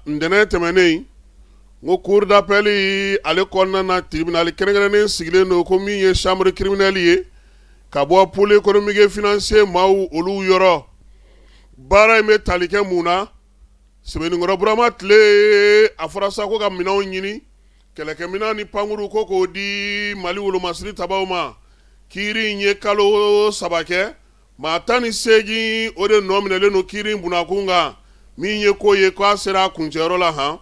ntɛnɛn tɛmɛnen n ko cour d'appel ale kɔnɔna tribunal kɛrɛnkɛrɛnnen sigilen don ko min ye chambre criminelle ye ka bɔ pôle économique et financier maaw olu yɔrɔ baara in bɛ tali kɛ mun na sebeninkɔrɔ burama tile a fɔra sa ko ka minɛnw ɲini kɛlɛkɛminɛn ni pankurun ko k'o di mali wolomasiri tabaw ma kiiri in ye kalo saba kɛ Maa tan ni seegin o de nɔ minɛlen don kiiri in bunna kun kan min ye ko ye ko a sera a kuncɛyɔrɔ la han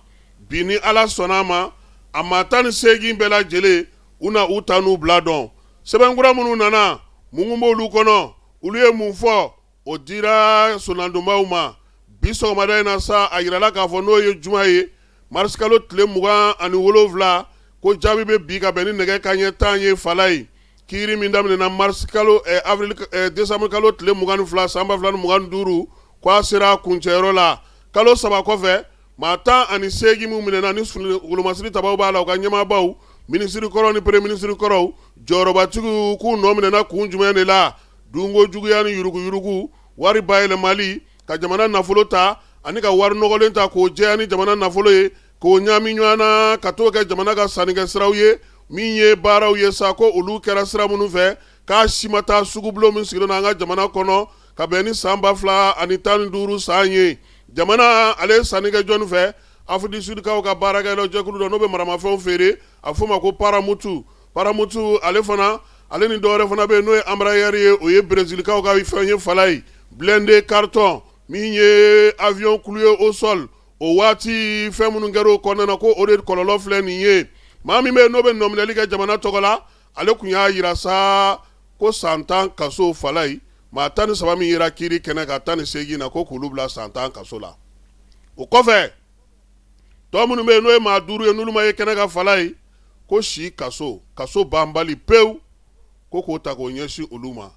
bi ni Ala sɔnna a ma a maa tan ni seegin bɛɛ lajɛlen u na u ta n'u bila dɔn sɛbɛn kura minnu nana mun mun b'olu kɔnɔ olu ye mun fɔ o dira sonnadonbaaw ma bi sɔgɔmada in na sa a jirala k'a fɔ n'o ye juma ye marisikalo tile mugan ani wolonwula ko jaabi bɛ bin ka bɛn ni nɛgɛ kanɲɛ tan ye Falayi Kiiri min daminɛna marisi kalo avril desanburu kalo tile mugan ni fila san ba fila ni mugan ni duuru ko a sera a kuncɛyɔrɔ la kalo saba kɔfɛ maa tan ani seegin minnu minɛna ni wolomasiri tabaw b'a la u ka ɲɛmaabaw minisirikɔrɔ ni premier minisirikɔrɔ jɔyɔrɔbatigiw k'u nɔminɛna kun jumɛn de la dunko juguya ni yuruguyurugu wari bayɛlɛmali ka jamana nafolo ta ani ka wari nɔgɔlen ta k'o jɛya ni jamana nafolo ye K'o ɲaami ɲɔgɔn na ka t'o kɛ jamana ka sannikɛ siraw ye min ye baaraw ye sa ko olu kɛra sira minnu fɛ k'a si ma taa sugubulon min sigilen an ka jamana kɔnɔ ka bɛn ni san ba fila ani tan ni duuru san ye jamana ale ye sanni kɛ jɔnni fɛ Afrique du Sud kaw ka baarakɛ jɛkulu dɔ n'o bɛ maramafɛnw feere a f'o ma ko paramutu paramutu ale fana ale ni dɔwɛrɛ fana bɛ yen n'o ye Embraer ye o ye berezilikaw ka fɛn ye Falayi blindé carton min ye avion cloué au sol o waati fɛn minnu kɛra o kɔnɔna na ko o de kɔlɔlɔ filɛ nin ye maa min bɛ yen n'o bɛ nɔminɛli kɛ jamana tɔgɔ la ale tun y'a jira sa ko san tan kaso Falayi maa tan ni saba min yera kiiri kɛnɛ kan tan ni seegin na ko k'olu bila san tan kaso la o kɔfɛ tɔ minnu bɛ yen n'o ye maa duuru ye n'olu ma ye kɛnɛ kan Falayi ko si kaso kaso banbali pewu ko k'o ta k'o ɲɛsin olu ma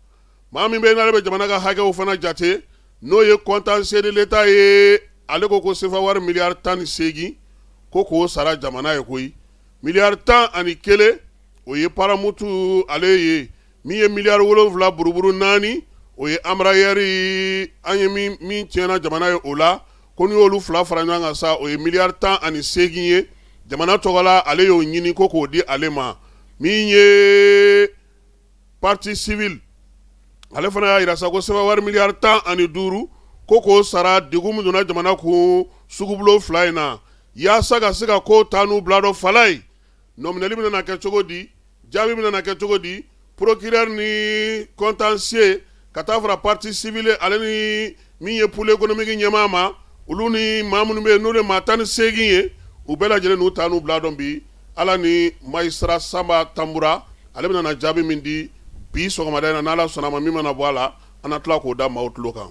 maa min bɛ n'a bɛ jamana ka hakɛw fana jate n'o ye contentieux de l'État ye ale ko ko sefa wari miliyari tan ni seegin ko k'o sara jamana ye koyi miliyari tan ani kelen o ye paramutu ale ye min ye miliyari wolonwula buruburu naani o ye Embraer an ye min tiɲɛna jamana ye o la ko n'i y'olu fila fara ɲɔgɔn kan sa o ye miliyari tan ani seegin ye jamana tɔgɔ la ale y'o ɲini ko k'o di ale ma min ye partie civile ale fana y'a jira sa ko sefa wari miliyari tan ani duuru ko k'o sara digi min donna jamana kun sugubulon fila in na yaasa ka se ka kow ta n'u bila dɔn Falayi nɔminɛli bɛna kɛ cogo di jaabi bɛna kɛ cogo di procureur ni contentieux ka taa fara pati sivili ale ni min ye poli ekɔnɔmiki ɲɛmaa ma olu ni maa minnu bɛ n'o de maa tan ni seegin ye u bɛɛ lajɛlen n'u ta n'u bila don bi ala ni mazisitara sanba tanbura ale bɛna jaabi min di bi sɔgɔmada in na ni ala sɔnna a ma min mana bɔ a la an na tila k'o da maaw tulo kan